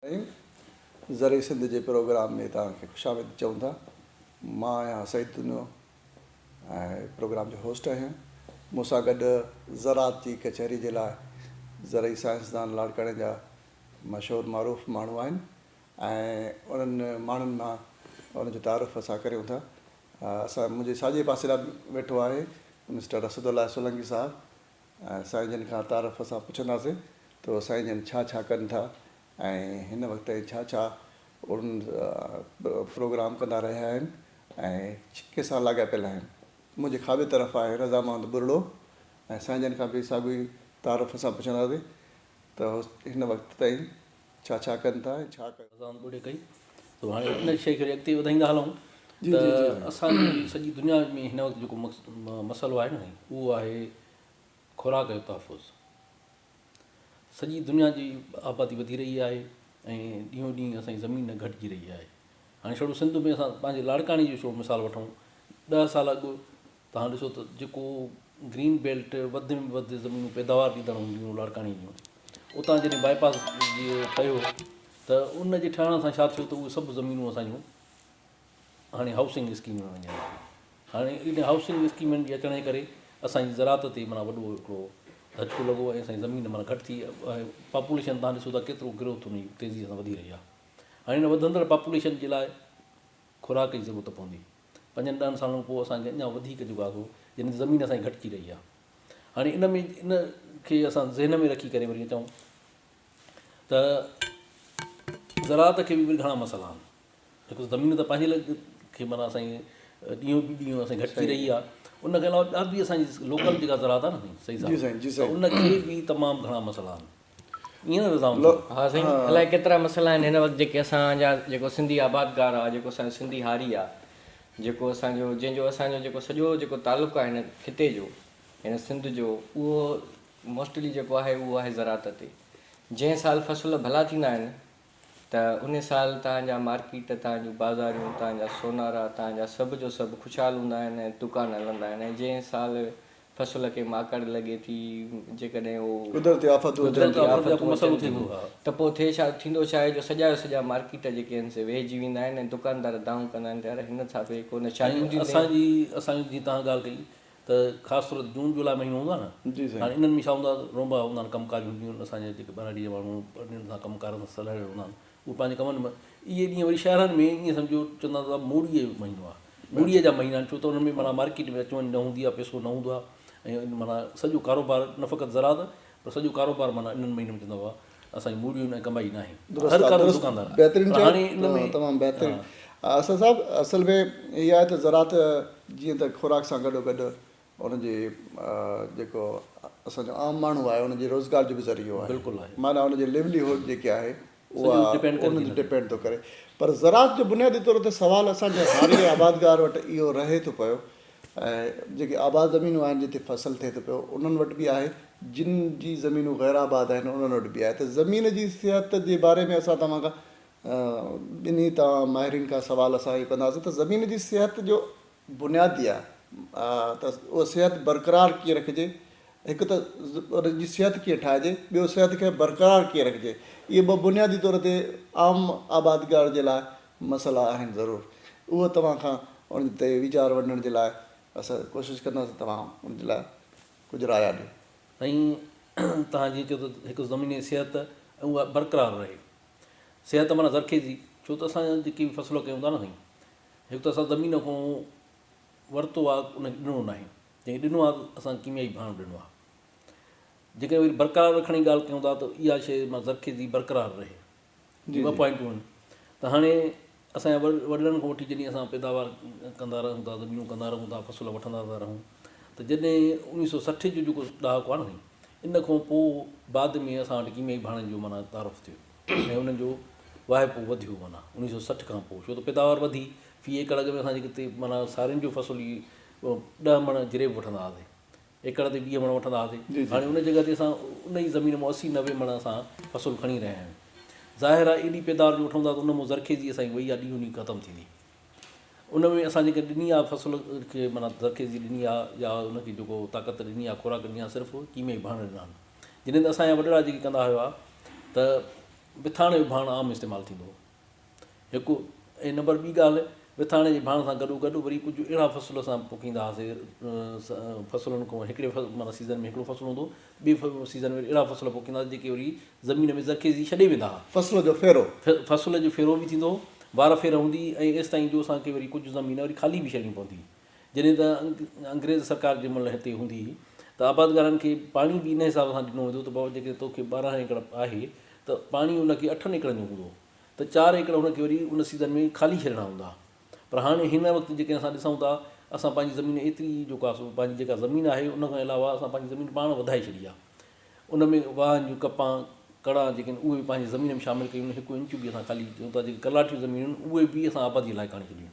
سائين ذري سنڌ جي پروگرام ۾ توهان کي خوش آمديد چئون ٿا مان آهيان سعيد دنو ۽ پروگرام جو هوسٽ آهيان مون سان گڏ زراعت جي ڪچهري جي لاء زرعي سائنسدان لاڙڪاڻي جا مشهور معروف ماڻهو آهن ۽ انهن ماڻهن مان انهن جو تعارف اسان ڪريون ٿا اسان منهنجي ساڄي پاسي ڏانهن ويٺو آهي مسٽر اسد الله سولنگي صاحب سائين جن کان تعارف سان پڇنداسين ته سائين جن ڇا ڇا ڪن ٿا ۽ هن وقت تائين ڇا ڇا ان پروگرام ڪندا رهيا آهن ۽ ڪنهن سان لاڳاپيل آهن. منهنجي کاٻي طرف آهي رضا محمد ٻرڙو ۽ سائين جن کان به ساڳيو ئي تعارف سان پڇنداسين ته هن وقت تائين ڇا ڇا ڪن ٿا ۽ ڇا ڪيو. اذان پڙهي ڪئي تو هاڻي ان شيء کي وري اڳتي وڌائيندا هلون ته اسان جي سڄي دنيا ۾ هن وقت جيڪو مسئلو آهي نه سائين اهو آهي خوراڪ جو تحفظ سڄي دنيا جي آبادي وڌي رهي آهي ۽ ڏينهون ڏينهن اسان جي زمين گهٽجي رهي آهي هاڻي سنڌ ۾ اسان پنهنجي لاڙڪاڻي جو مثال وٺون ڏهه سال اڳ توهان ڏسو ته جيڪو گرين بيلٽ وڌ ۾ وڌ زمينون پيداوار ڏيندڙ هونديون لاڙڪاڻي جون اتان جڏهن باء پاس ٺهيو ته ان جي ٺهڻ سان ڇا ٿيو ته اهي سڀ زمينون اسانجون هاڻي هائوسنگ اسڪيم ۾ وڃن هاڻي ان هائوسنگ اسڪيمن جي اچڻ جي ڪري اسانجي زراعت تي مانا وڏو هڪڙو ڌچڪو لڳو ۽ اسانجي زمين مانا گهٽ ٿي ۽ پاپوليشن تان ڏسو ته ڪيترو گروٿ ان جي تيزي سان وڌي رهي آهي هاڻي ان وڌندڙ پاپوليشن جي لاء خوراڪ جي ضرورت پوندي پنجن ڏهن سالن کان پوء اسان کي اڃا وڌيڪ جڳهه گهرجي جنهن تي زمين اسان جي گهٽجي رهي آهي هاڻي ان ۾ ان کي اسان ذهن ۾ رکي ڪري وري اچون ته زراعت کي به گهڻا مسئلا آهن بڪاز زمين ته پنهنجي لڳ کي مانا اسان جي ڏينهون به ڏينهون اسان جي گهٽجي رهي آهي ان کي علاوه ٻيا به اسان جي لوڪل جيڪا زراعت آهي نه سائين سائين جي سائين جي سائين ان کي به تمام گهڻا مسئلا آهن ها سائين الائي ڪيترا مسئلا آهن هن وقت جيڪي اسان جا جيڪو سنڌي آبادگار آ جيڪو اسان جو سنڌي هاري آ جيڪو اسان جو جنهن جو اسان جو جيڪو سڄو جيڪو تعلق آهي هن خطي جو هن سنڌ جو اهو موسٽلي جيڪو آهي اهو آهي زراعت تي جنهن سال فصل ڀلا ٿيندا آهن ته ان سال تان جا مارڪيٽ، تان جون بازاريون، تان جا سونارا، تان جا سڀ جو سڀ خوشحال هوندا آهن ۽ دڪان هلندا آهن ۽ جنهن سال فصل کي ماڪڙ لڳي ٿي، جيڪڏهن هو. قدرتي آفتون اچن ٿيون. قدرتي آفتون اچن ٿيون ته پوء ٿئي ڇا؟ ٿيندو ڇا آهي جو سڄا جو سڄا مارڪيٽ جيڪي آهن سي ويهجي ويندا آهن ۽ دڪاندار دانهون ڪندا آهن ته يار هن ٿا به ڪو نه ڇا ڏيون ٿيون ڪين. اسان جي، اسان جي جيئن تان ڳالهه ڪئي. ته خاص طور تي جون جولاء مهينو هوندو آهي نه جي سائين. هاڻي انهن ۾ ڇا هوندو آهي رونبا هوندا آهن ڪم ڪاج هونديون آهن اسان جا جيڪي ٻهراڙي جا ماڻهو پرڏيهن سان ڪم ڪارن سان سلهڙيل هوندا آهن اهي پنهنجي ڪمن م اهي ڏينهن وري شهرن ۾ ائين سمجهو چوندا آهن ته موڙيء جو مهينو آهي موڙيء جا مهينا آهن ڇو ته انهن ۾ معنيٰ مارڪيٽ ۾ اچ وڃ نه هوندي آهي پئسو نه هوندو آهي ۽ معنيٰ سڄو ڪاروبار نه فقط زراعت پر سڄو ڪاروبار معنيٰ انهن مهينن ۾ چوندا هئا اسان جي موڙيون ۽ ڪمائي ناهي. درست آ درست بهترين چيو تمام بهترين اسد صاحب اصل ۾ هي آهي ته زراعت جيئن ته خوراڪ سان گڏو گڏ ان جي جيڪو اسان جو عام ماڻهو آهي ان جي روزگار جو به ذريعو آهي بلڪل آهي معنيٰ ان جي ليولي هوڊ جيڪي آهي اها ان تي ڊپينڊ ٿو ڪري پر زراعت جو بنيادي طور تي سوال اسان جي هاري آبادگار وٽ اهو رهي ٿو پيو ۽ جيڪي آباد زمينون آهن جتي فصل ٿئي ٿو پيو انهن وٽ به آهي جن جي زمينون غير آباد آهن انهن وٽ به آهي ته زمين جي صحت جي باري ۾ اسان توهان کان ٻنهي توهان ماهرين کان سوال اسان اهو ڪنداسين ته زمين جي صحت جو بنيادي آهي ته اها صحت برقرار ڪيئن رکجي هڪ ته ان جي صحت ڪيئن ٺاهجي ٻيو صحت کي برقرار ڪيئن رکجي اهي ٻه بنيادي طور تي عام آبادگار جي لاء مسئلا آهن ضرور اهو توهان کان ان تي ويچار ونڊڻ جي لاء اسان ڪوشش ڪنداسين توهان ان جي لاء ڪجهه رايا ڏيو. سائين توهان جيئن چيو ته هڪ زميني صحت ۽ اها برقرار رهي صحت معنيٰ زرخيزي ڇو ته اسان جيڪي به فصل ڪيون ٿا نه سائين هڪ ته اسان زمين کان ورتو آهي ان کي ڏنو ناهي جنهن کي ڏنو آهي اسان ڪيميائي ڀاڻو ڏنو آهي جيڪڏهن وري برقرار رکڻ جي ڳالهه ڪيون ٿا ته اها شيء معنيٰ زرخيزي برقرار رهي جي ٻه پوائنٽون آهن ته هاڻي اسان جي وڏڙن کان وٺي جڏهن اسان پيداوار ڪندا رهون ٿا زمينون ڪندا رهون ٿا فصل وٺندا ٿا رهون ته جڏهن اوڻيهه سؤ سٺ جو جيڪو ڏهاڪو آهي نه ان کان پوء بعد ۾ اسان وٽ ڪيميائي ڀاڻن جو معنيٰ تعارف ٿيو ۽ انهن جو واهپو وڌيو معنيٰ اوڻيهه سؤ سٺ کان پوء ڇو ته پيداوار وڌي في ايڪڙ اڳ ۾ اسان جي ڪتي معنيٰ سارين جو فصل ئي ڏهه مڻ جريب وٺندا هئاسين ايڪڙ تي ويهه مڻ وٺندا هئاسين، هاڻي ان جڳهه تي اسان ان ئي زمين مون اسي نوي مڻ اسان فصل کڻي رهيا آهيون. ظاهر آهي ايڏي پيداوار جو وٺون ٿا ته ان مون زرخيزي اسان جي وئي آهي ڏينهون ڏينهن ختم ٿيندي. ان ۾ اسان جيڪا ڏني آهي فصل کي معنيٰ زرخيزي ڏني آهي يا ان کي جيڪو طاقت ڏني آهي خوراڪ ڏني آهي صرف ڪيميائي ڀاڻ ڏنا آهن. جڏهن ته اسان جا وڏڙا جيڪي ڪندا هيا ته بٿاڻ جو ڀاڻ عام استعمال ٿيندو هو. هڪ ۽ نمبر ٻي ڳالهه وٿاڻي جي ڀاڻ سان گڏو گڏ وري ڪجهه اهڙا فصل اسان پوکيندا هئاسي فصلن کان هڪڙي معنيٰ سيزن ۾ هڪڙو فصل هوندو هو ٻي سيزن ۾ اهڙا فصل پوکيندا هئاسي جيڪي وري زمين ۾ زرخيزي ڇڏي ويندا هئا فصل جو ڦيرو فصل جو ڦيرو به ٿيندو هو وار ڦير هوندي هئي ۽ ايستائين جو اسان کي وري ڪجهه زمين وري خالي به ڇڏڻي پوندي هئي جڏهن ته انگريز سرڪار جنهن مهل هتي هوندي هئي ته آبادگارن کي پاڻي به ان حساب سان ڏنو ويندو هو ته بابا جيڪڏهن تو کي ٻارهن ايڪڙ آهي ته پاڻي ان کي اٺن ايڪڙن جو هوندو ته چار ايڪڙ هن کي وري ان سيزن ۾ خالي ڇڏڻا هوندا پر هاڻي هن وقت جيڪڏهن اسان ڏسون ٿا اسان پنهنجي زمين ايتري جو ڪا سو پنهنجي جيڪا زمين آهي ان کان علاوه اسان پنهنجي زمين پاڻ وڌائي ڇڏي آهي ان ۾ واهن جون ڪپان ڪڙا جيڪي آهن اهي پنهنجي زمين ۾ شامل ڪيون هڪ انچ به اسان خالي ڪيون ٿا جيڪي ڪلاٺيون زمينون آهن اهي به اسان آبادي لاء ڪاڻي ڇڏيون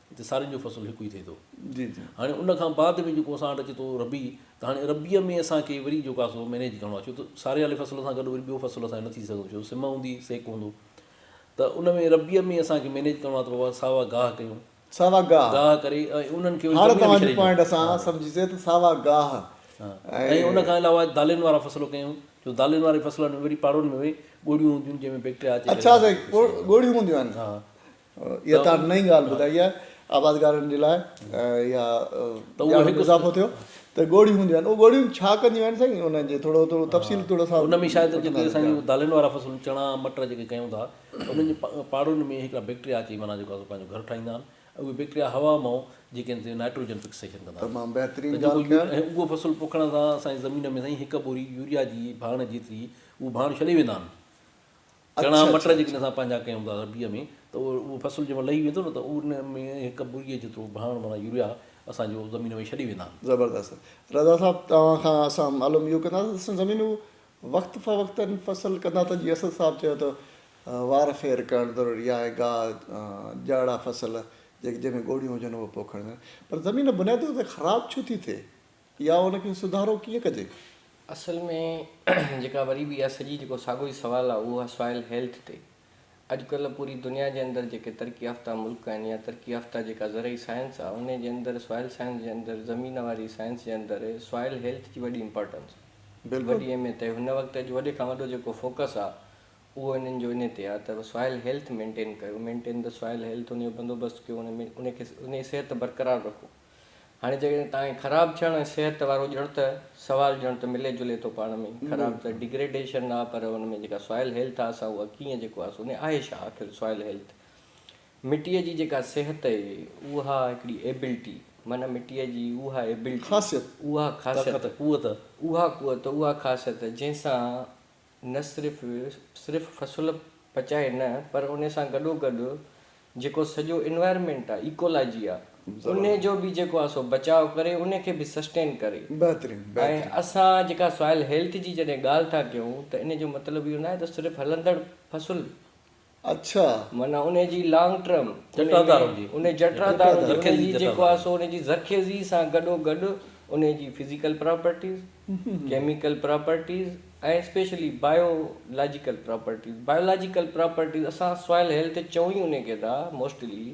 هتي سارين جو فصل هڪ ئي ٿئي ٿو. هاڻي ان کان بعد ۾ جيڪو اسان وٽ اچي ٿو ربيع ته هاڻي ربيع ۾ اسان کي وري جيڪو آهي سو مينيج ڪرڻو آهي ڇو ته ساري واري فصل سان گڏ وري ٻيو فصل اسان جو نه ٿي سگهندو ڇو سم هوندي سيڪ هوندو ته ان ۾ ربيع ۾ اسان کي مينيج ڪرڻو آهي ته بابا ساوا گاهه ڪيون ساوا گاهه گاهه ڪري ۽ انهن کي هاڻي توهان جو پوائنٽ اسان سمجهي سي ته ساوا گاهه ۽ ان کان علاوه دالين وارا فصل ڪيون جو دالين واري فصلن ۾ وري پاڙن ۾ ڳوڙهيون هونديون جنهن ۾ بيڪٽريا اچي اچا سائين ڳوڙهيون هونديون آهن اها توهان نئين ڳالهه ٻڌائي آهي آبادگارن جي لاء اها ڄاڻ ۾ اضافو ٿيو ته ڳوڙهيون هونديون آهن اهي ڳوڙهيون ڇا ڪنديون آهن سائين انهن جي ٿورو ٿورو تفصيل ٿورو سا ان ۾ شايد جيڪي اسان جون دالن وارا فصل چڻا مٽر جيڪي ڪيون ٿا انهن جي پاڙن ۾ هڪڙا بيڪٽريا اچي معنيٰ جيڪو اسان پنهنجو گهر ٺاهيندا آهن اهي بيڪٽريا هوا مئو جيڪي آهن سي نائٽروجن فڪسيشن ڪندا آهن تمام بهترين ڳالهه ڪيو ۽ اهو فصل پوکڻ سان سائين زمين ۾ سائين هڪ ٻوري يوريا جي ڀاڻ جيتري اهو ڀاڻ ڇڏي ويندا آهن چڻا مٽر جيڪڏهن اسان پنهنجا ڪيون ٿا ربيع ۾ ته اهو فصل جنهن مهل لهي ويندو نه ته ان ۾ هڪ ٻريء جيترو ڀاڻ معنيٰ يوريا اسان جو زمين ۾ ڇڏي ويندا آهن. زبردست رضا صاحب توهان کان اسان معلوم اهو ڪندا ته اسان زمينون وقت فوقتاً فصل ڪندا ته جيئن اسد صاحب چيو ته وار ڦير ڪرڻ ضروري آهي گاهه جهڙا فصل جيڪي جنهن ۾ ڳوڙهيون هجن اهي پوکڻ پر زمين بنيادي طور تي خراب ڇو ٿي ٿئي؟ يا ان کي سڌارو ڪيئن ڪجي؟ اصل ۾ جيڪا وري به اها سڄي جيڪو ساڳو ئي سوال آهي اهو آهي سوائل هيلٿ تي. اڄڪلهه پوري دنيا جي اندر جيڪي ترقي يافته ملڪ آهن يا ترقي يافته جيڪا زرعي سائنس آهي انهي جي اندر سوائل سائنس جي اندر زمين واري سائنس جي اندر سوائل هيلٿ جي وڏي امپارٽنس آهي وڏي اهميت آهي هن وقت اڄ وڏي کان وڏو جيڪو فوڪس آهي اهو انهن جو انهي تي آهي ته سوائل هيلٿ مينٽين ڪيو مينٽين د سوائل هيلٿ انهي جو بندوبست ڪيو انهي ۾ انهي کي انهي صحت برقرار رکو. هاڻي جيڪڏهن تائين خراب ٿيڻ ۽ صحت وارو ڄڻ ته سوال ڄڻ ته ملي جلي ٿو پاڻ ۾ ئي خراب ته Degradation آ پر ان ۾ جيڪا Soil Health آ سا اها ڪيئن جيڪو آ سو ني آهي ڇا آخر Soil Health مٽيء جي جيڪا صحت اي اها هڪڙي Ability معنيٰ مٽيء جي اها Ability خاصيت اها خاصيت طاقت قوت اها قوت اها خاصيت جنهن سان نه صرف صرف فصل پچائي نه پر ان سان گڏو گڏ جيڪو سڄو انوائرمينٽ آ ايڪولاجي آ ان جو به جيڪو آ سو بچاء ڪري ان کي به سسٽين ڪري ۽ اسان جيڪا سوائل هيلٿ جي جڏهن ڳالهه ٿا ڪيون ته ان جو مطلب اهو ناهي ته صرف هلندڙ فصل اڇا. معنيٰ ان جي لانگ ٽرم. جٽرادار هوندي. ان جٽرادار هوندي. ان جي جيڪو آهي سو ان جي ذخيذي سان گڏو گڏ ان جي physical properties, chemical properties ۽ specially biological properties. Biological properties اسان سوائل هيلٿ چئون ئي ان کي ٿا موسٽلي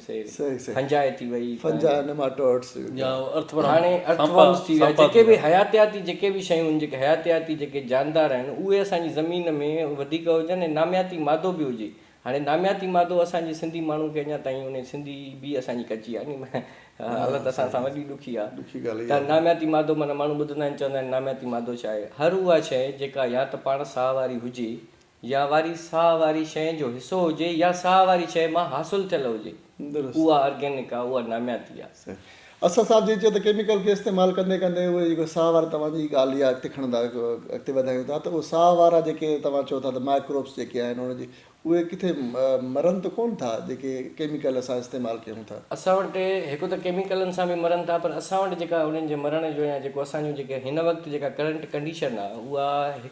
فنجاء ٿي وئي فنجاء نيماٽوڊس يا ارٿ ورم هاڻي ارٿ ورمس ٿي ويا جيڪي به حياتياتي جيڪي به شيون جيڪي حياتياتي جيڪي جاندار آهن اهي اسان جي زمين ۾ وڌيڪ هجن ۽ نامياتي مادو به هجي هاڻي نامياتي مادو اسان جي سنڌي ماڻهو کي اڃا تائين انهي سنڌي به اسان جي ڪچي آهي ني حالت اسان سان وڏي ڏکي آهي ته نامياتي مادو معنيٰ ماڻهو ٻڌندا آهن چوندا آهن نامياتي مادو ڇا آهي هر اها شيء جيڪا يا ته پاڻ ساهه واري هجي يا واري ساهه واري شيء جو حصو هجي يا ساهه واري شيء مان حاصل ٿيل هجي درست. اها آرگينڪ آ اها نامياتي آ. صحيح. اسد صاحب جيئن چيو ته ڪيميڪل کي استعمال ڪندي ڪندي اهي جيڪو ساهه واري توهان جي ڳالهه جي اڳتي کڻن ٿا اڳتي وڌايون ٿا ته اهي ساهه وارا جيڪي توهان چئو ٿا ته مائڪروبس جيڪي آهن ان جي اهي ڪٿي مرن ته ڪون ٿا جيڪي ڪيميڪل اسان استعمال ڪيون ٿا. اسان وٽ هڪ ته ڪيميڪلن سان به مرن ٿا پر اسان وٽ جيڪا انهن جي مرڻ جو يا جيڪو اسان جون جيڪي هن وقت جيڪا ڪرنٽ ڪنڊيشن آ اها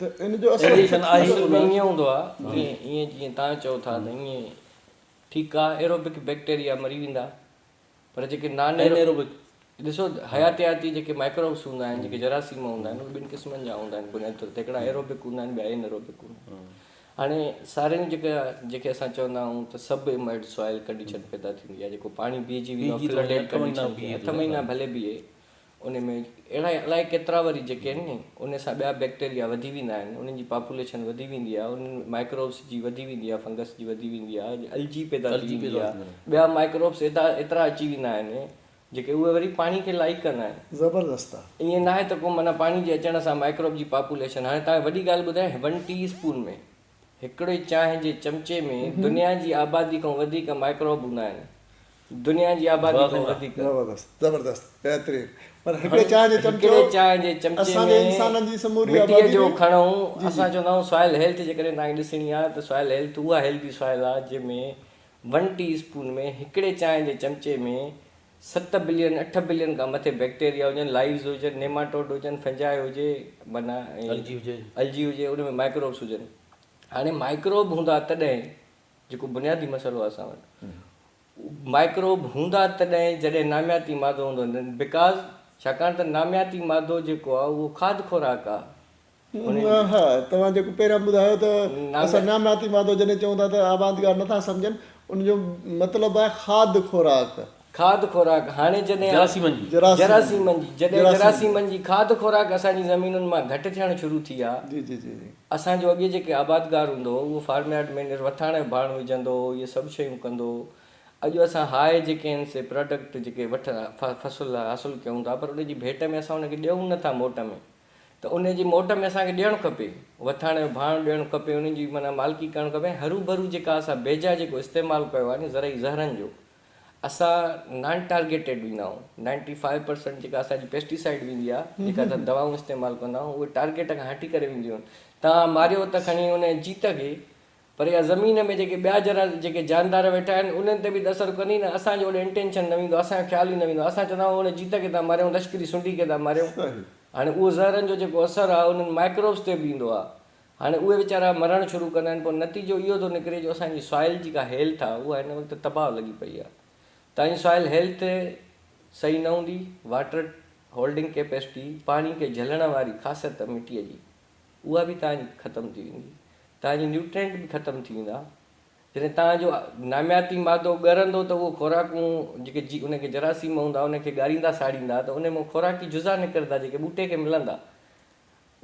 ايليشن آهي ته نه ائين هوندو آهي ائين جيئن تان چئو ٿا ته ائين ٺيڪ آهي ايروبڪ بيڪٽيريا مري ويندا پر جيڪي نان ايروبڪ ڏسو حياتياتي جيڪي مائڪروبس هوندا آهن جيڪي جراثيم هوندا آهن اهي ٻن قسمن جا هوندا آهن بنيادي طور تي هڪڙا ايروبڪ هوندا آهن ٻيا ان ايروبڪ هوندا آهن هاڻي سارين جيڪا جيڪي اسان چوندا آهيون ته سب امائڊ سوائل ڪنڊيشن پيدا ٿيندي آهي جيڪو پاڻي بيهجي ويندو آهي فلڊ ڪنڊيشن اٺ مهينا ڀلي بيهي ان ۾ اهڙا الائي ڪيترا وري جيڪي آهن ني ان سان ٻيا بيڪٽيريا وڌي ويندا آهن انهن جي پاپوليشن وڌي ويندي آهي انهن مائڪروبس جي وڌي ويندي آهي فنگس جي وڌي ويندي آهي الجي پيدا ٿي ويندي آهي ٻيا مائڪروبس ايدا ايترا اچي ويندا آهن جيڪي اهي وري پاڻي کي لائق ڪندا آهن زبردست آهي ائين ناهي ته ڪو معنيٰ پاڻي جي اچڻ سان مائڪروب جي پاپوليشن هاڻي توهان کي وڏي ڳالهه ٻڌايان ون ٽي اسپون ۾ هڪڙي چانهه جي چمچي ۾ دنيا جي آبادي کان وڌيڪ مائڪروب هوندا آهن. دنيا جي آبادي کان وڌيڪ. زبردست زبردست بهترين پر هڪڙي چانهه جي چمچو. هڪڙي چانهه جي چمچي ۾ مٽيء جو کڻو اسان چوندا آهيون سوائل هيلٿ جيڪڏهن توهان کي ڏسڻي آهي ته سوائل هيلٿ اها هيلٿي سوائل آهي جنهن ۾ ون ٽي اسپون ۾ هڪڙي چانهه جي چمچي ۾ ست بلين، اٺ بلين کان مٿي بيڪٽيريا هجن، لائيوز هجن، نيماٽوڊ هجن، فنجائي هجي معنيٰ الجي هجي. الجي هجي ان ۾ مائڪروبس هجن. هاڻي مائڪروب هوندا تڏهن جيڪو بنيادي مسئلو آهي اسان وٽ. مائڪروب هوندا تڏهن جڏهن نامياتي مادو هوندو Because ڇاڪاڻ ته نامياتي مادو جيڪو آهي اهو کاڌ خوراڪ آهي. ها توهان جيڪو پهريان ٻڌايو ته اسان نامناتي مادو جڏهن چئون ٿا ته آبادگار نٿا سمجهن ان جو مطلب آهي کاڌ خوراڪ. کاڌ خوراڪ هاڻي جڏهن جراثيمن جي جراثيمن جي جڏهن جراثيمن جي کاڌ خوراڪ اسان جي زمينن مان گهٽ ٿيڻ شروع ٿي آ جي جي جي جي. اسان جو اڳي جيڪي آبادگار هوندو هو اهو فارم يارڊ ۾ نر وٿاڻ جو ڀاڻ وجهندو هو اهي سڀ شيون ڪندو هو اڄ اسان هاء جيڪي آهن سي پراڊڪٽ جيڪي وٺ فصل حاصل ڪيون ٿا پر ان جي ڀيٽ ۾ اسان ان کي ڏيون نٿا موٽ ۾ ته ان جي موٽ ۾ اسان کي ڏيڻ کپي، وٿاڻ جو ڀاڻ ڏيڻ کپي، ان جي معنيٰ مالڪي ڪرڻ کپي ۽ هروڀرو جيڪا اسان بيجا جيڪو استعمال ڪيو آهي نه زرعي زهرن جو اسان نان ٽارگيٽيڊ ويندا آهيون، نائنٽي فائيو پرسنٽ جيڪا اسان جي پيسٽيسائيڊ ويندي آهي، جيڪا اسان دوائون استعمال ڪندا آهيون، اهي ٽارگيٽ کان هٽي ڪري وينديون آهن، توهان ماريو ته کڻي ان جي جيت کي، پر اها زمين ۾ جيڪي ٻيا ذرا جيڪي جاندار ويٺا آهن انهن تي به ته اثر ڪندي نه اسان جو اوڏي انٽينشن نه ويندو اسان جو خيال ئي نه ويندو اسان چوندا آهيون ان جيت کي ٿا ماريون لشڪري سنڍي کي ٿا ماريون هاڻي اهو زهرن جو جيڪو اثر آهي انهن مائڪروبس تي به ايندو آهي هاڻي اهي ويچارا مرڻ شروع ڪندا آهن پوء نتيجو اهو ٿو نڪري جو اسان جي سوائل جيڪا هيلٿ آهي اها هن وقت تباهه لڳي پئي آهي تان جي سوائل هيلٿ صحيح نه هوندي واٽر هولڊنگ ڪيپيسٽي پاڻي کي جهلڻ واري خاصيت مٽي جي اها به توهان جي ختم ٿي ويندي. توهان جي نيوٽرينٽ به ختم ٿي ويندا. جڏهن توهان جو نامياتي مادو ڳرندو ته اهي خوراڪون جيڪي جي ان کي جراثيم هوندا ان کي ڳاريندا ساڙيندا ته ان مان خوراڪي جزا نڪرندا جيڪي ٻوٽي کي ملندا.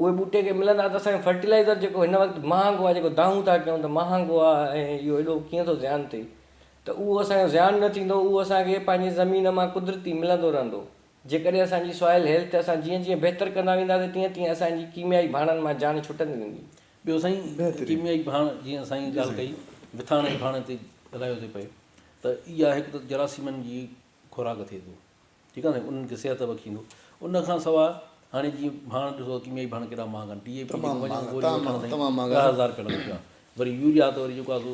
اهي ٻوٽي کي ملندا ته اسان کي فرٽيلائيزر جيڪو هن وقت مهانگو آهي جيڪو دانهون ٿا ڪيون ته مهانگو آهي ۽ اهو ايڏو ڪيئن ٿو زيان ٿئي ته اهو اسان جو زيان نه ٿيندو اهو اسان کي پنهنجي زمين مان قدرتي ملندو رهندو. جيڪڏهن اسان جي سوائل هيلٿ اسان جيئن جيئن بهتر ڪندا وينداسين تيئن تيئن اسان جي ڪيميائي ڀاڻن مان جان ڇٽندي ويندي. ٻيو سائين ڪيميائي ڀاڻ جيئن سائين ڳالهه ڪئي مٿاڻ جي ڀاڻي تي ڳالهايو ٿي پئي ته اها هڪ ته جراثيمن جي خوراڪ ٿئي ٿو ٺيڪ آهي انهن کي صحت بخشيندو ان کان سواء هاڻي جيئن ڀاڻ ڏسو ڪيميائي ڀاڻ ڪيڏا مهانگا آهن ڊي اي پي جيڪو وڃو گوري وٺڻ سائين ڏهه هزار رپيا لڳن پيا وري يوريا ته وري جيڪو آهي سو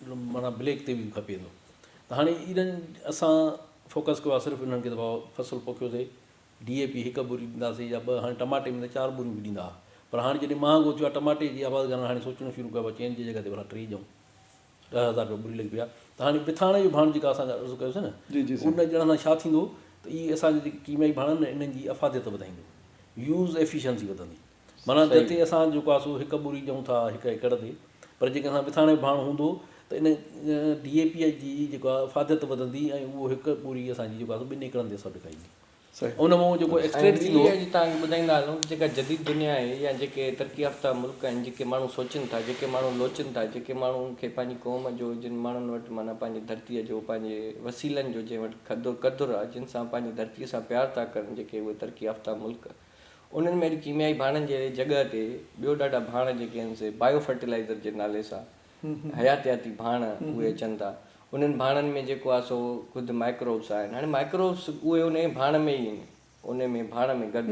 معنيٰ بليڪ تي به کپي ٿو ته هاڻي ايڏن اسان فوڪس ڪيو آهي صرف انهن کي دفعو فصل پوکيو سي ڊي اي پي هڪ بوري ڏينداسي يا ٻه هاڻي ٽماٽي ۾ ته چار بوريون به ڏيندا هئا پر هاڻي جڏهن مهانگو ٿيو آهي ٽماٽي جي آبادگارن هاڻي سوچڻو شروع ڪيو آهي چئن جي جڳهه تي ڀلا ٽي ڏيون ڏهه هزار روپيا بوري لڳي پئي آهي ته هاڻي بٿاڻي جو ڀاڻ جيڪا اسان عرض ڪيوسي نه ان ڄڻ سان ڇا ٿيندو ته اي اسان جي جيڪي ڪيميائي ڀاڻ آهن نه انهن جي افاديت وڌائيندو يوز ايفيشنسي وڌندي معنيٰ جتي اسان جيڪو آهي سو هڪ ٻوري چئون ٿا هڪ ايڪڙ تي پر جيڪڏهن اسان وٿاڻي ڀاڻ هوندو ته ان ڊي اي پي جي جيڪو آهي افاديت وڌندي ۽ اهو هڪ ٻوري اسان جي جيڪو آهي سو ٻن ايڪڙن تي سڏ ڪئي ان مان جيڪو ايڪسٽريٽ ٿيندو. ۽ ٻي اڄ تهان کي ٻڌائيندا هلون ته جيڪا جديد دنيا آهي يا جيڪي ترقي يافته ملڪ آهن جيڪي ماڻهو سوچن ٿا جيڪي ماڻهو لوچن ٿا جيڪي ماڻهن کي پنهنجي قوم جو جن ماڻهن وٽ معنيٰ پنهنجي ڌرتيء جو پنهنجي وسيلن جو جنهن وٽ قدر آهي جن سان پنهنجي ڌرتيء سان پيار ٿا ڪرن جيڪي اهي ترقي يافته ملڪ انهن ۾ اڄ ڪيميائي ڀاڻن جي جڳهه تي ٻيو ڏاڍا ڀاڻ جيڪي آهن سي بايو فرٽيلائيزر جي نالي سان حياتياتي ڀاڻ اهي اچن ٿا انهن ڀاڻن ۾ جيڪو آهي سو خود مائڪروبس آهن هاڻي مائڪروبس اهي ان ئي ڀاڻ ۾ ئي ان ان ۾ ڀاڻ ۾ گڏ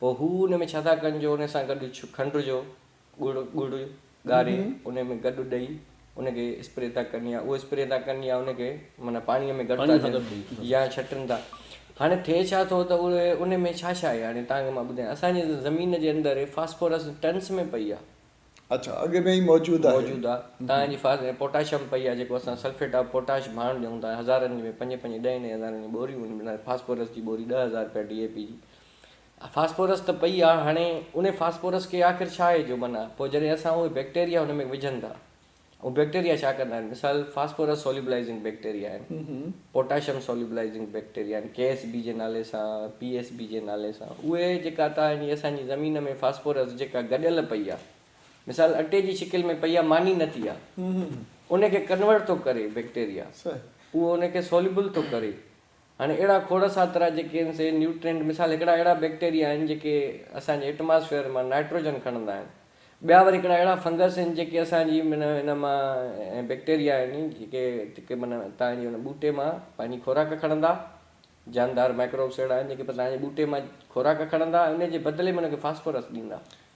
پوء هو ان ۾ ڇا ٿا ڪن جو ان سان گڏ کنڊ جو ڳڙ ڳڙ ڳاري ان ۾ گڏ ڏئي ان کي اسپري ٿا ڪن يا اهو اسپري ٿا ڪن يا ان کي معنيٰ پاڻيء ۾ گڏ ٿا ڏين يا ڇٽن ٿا هاڻي ٿئي ڇا ٿو ته اهي ان ۾ ڇا ڇا آهي هاڻي تهان کي مان ٻڌايان اسان جي زمين جي اندر فاسفورس ٽنس ۾ پئي آهي اڇا اڳ ۾ ئي موجود آهي موجود آهي تهان جي فاس پوٽاشم پئي آهي جيڪو اسان سلفيٽ آف پوٽاش ڀاڻ ڏيون ٿا هزارن ۾ پنج پنج ڏهين ڏهين هزارن جون ٻوريون ان ۾ فاسفورس جي ٻوري ڏهه هزار رپيا ڊي اي پي جي فاسفورس ته پئي آ هاڻي انهي فاسفورس کي آخر ڇا آهي جو معنيٰ پوء جڏهن اسان اهي بيڪٽيريا ان ۾ وجهن ٿا اهي بيڪٽيريا ڇا ڪندا آهن مثال فاسفورس سوليبلائزنگ بيڪٽيريا آهن پوٽاشم سوليبلائزنگ بيڪٽيريا آهن ڪي ايس بي جي نالي سان پي ايس بي جي نالي سان اهي جيڪا تان جي اسان جي زمين ۾ فاسفورس جيڪا گڏيل پئي آ مثال اٽي جي شڪل ۾ پئي آ ماني نه ٿي آ ان کي ڪنورٽ ٿو ڪري بيڪٽيريا اهو ان کي سوليبل ٿو ڪري هاڻي اهڙا کوڙ ساترا جيڪي آهن سي نيوٽرينٽ مثال هڪڙا اهڙا بيڪٽيريا آهن جيڪي اسان جي ايٽماسفيئر مان نائٽروجن کڻندا آهن ٻيا وري هڪڙا اهڙا فنگس آهن جيڪي اسان جي معنيٰ ان مان ۽ بيڪٽيريا آهن جيڪي جيڪي معنيٰ تان جي ان ٻوٽي مان پنهنجي خوراڪ کڻندا جاندار مائڪروبس اهڙا آهن جيڪي تان جي ٻوٽي مان خوراڪ کڻندا ۽ ان جي بدلي ۾ ان کي فاسفورس ڏيندا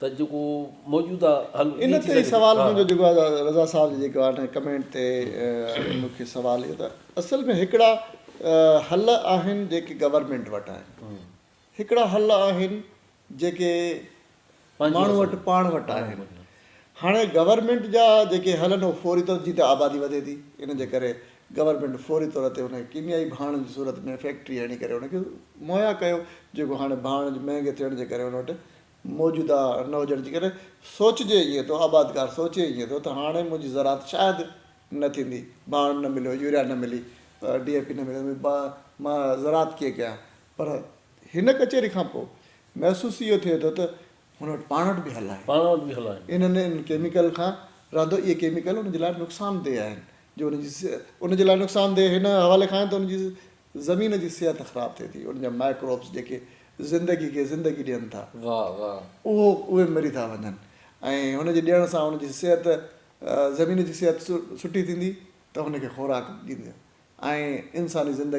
ته جيڪو موجوده حل ان تي ئي سوال منهنجو جيڪو آهي رضا صاحب جي جيڪو آهي ڪمينٽ تي مون کي سوال اهو ته اصل ۾ هڪڙا حل آهن جيڪي گورنمينٽ وٽ آهن هڪڙا حل آهن جيڪي ماڻهو وٽ پاڻ وٽ آهن هاڻي گورنمينٽ جا جيڪي حل آهن اهو فوري طور جي ته آبادي وڌي ٿي ان جي ڪري گورنمينٽ فوري طور تي ان ڪيميائي ڀاڻ جي صورت ۾ فيڪٽري هڻي ڪري ان کي مهيا ڪيو جيڪو هاڻي ڀاڻ جي مهنگي ٿيڻ جي ڪري ان وٽ موجوده نه هجڻ جي ڪري سوچجي ائين ٿو، آبادگار سوچي ائين ٿو ته هاڻي منهنجي زراعت شايد نه ٿيندي، ڀاڻ نه مليو، يوريا نه ملي، ڊي اي پي نه ملي، مان زراعت ڪيئن ڪيان؟ پر هن ڪچهري کان پوء محسوس اهو ٿئي ٿو ته هن وٽ پاڻ وٽ به حل آهن. انهن ان ڪيميڪل کان رهندو اهي ڪيميڪل ان جي لاء نقصان دهه آهن جو ان جي ان جي لاء نقصان دهه هن حوالي کان آهن ته ان جي زمين جي صحت خراب ٿئي ٿي، ان جا مائڪروبس جيڪي زندگي کي زندگي ڏين ٿا، اهو اهي مري ٿا وڃن ۽ هن جي ڏيڻ سان ان جي صحت زمين جي صحت سٺي ٿيندي ته هن کي خوراڪ ڏيندي ۽ انساني زندگي.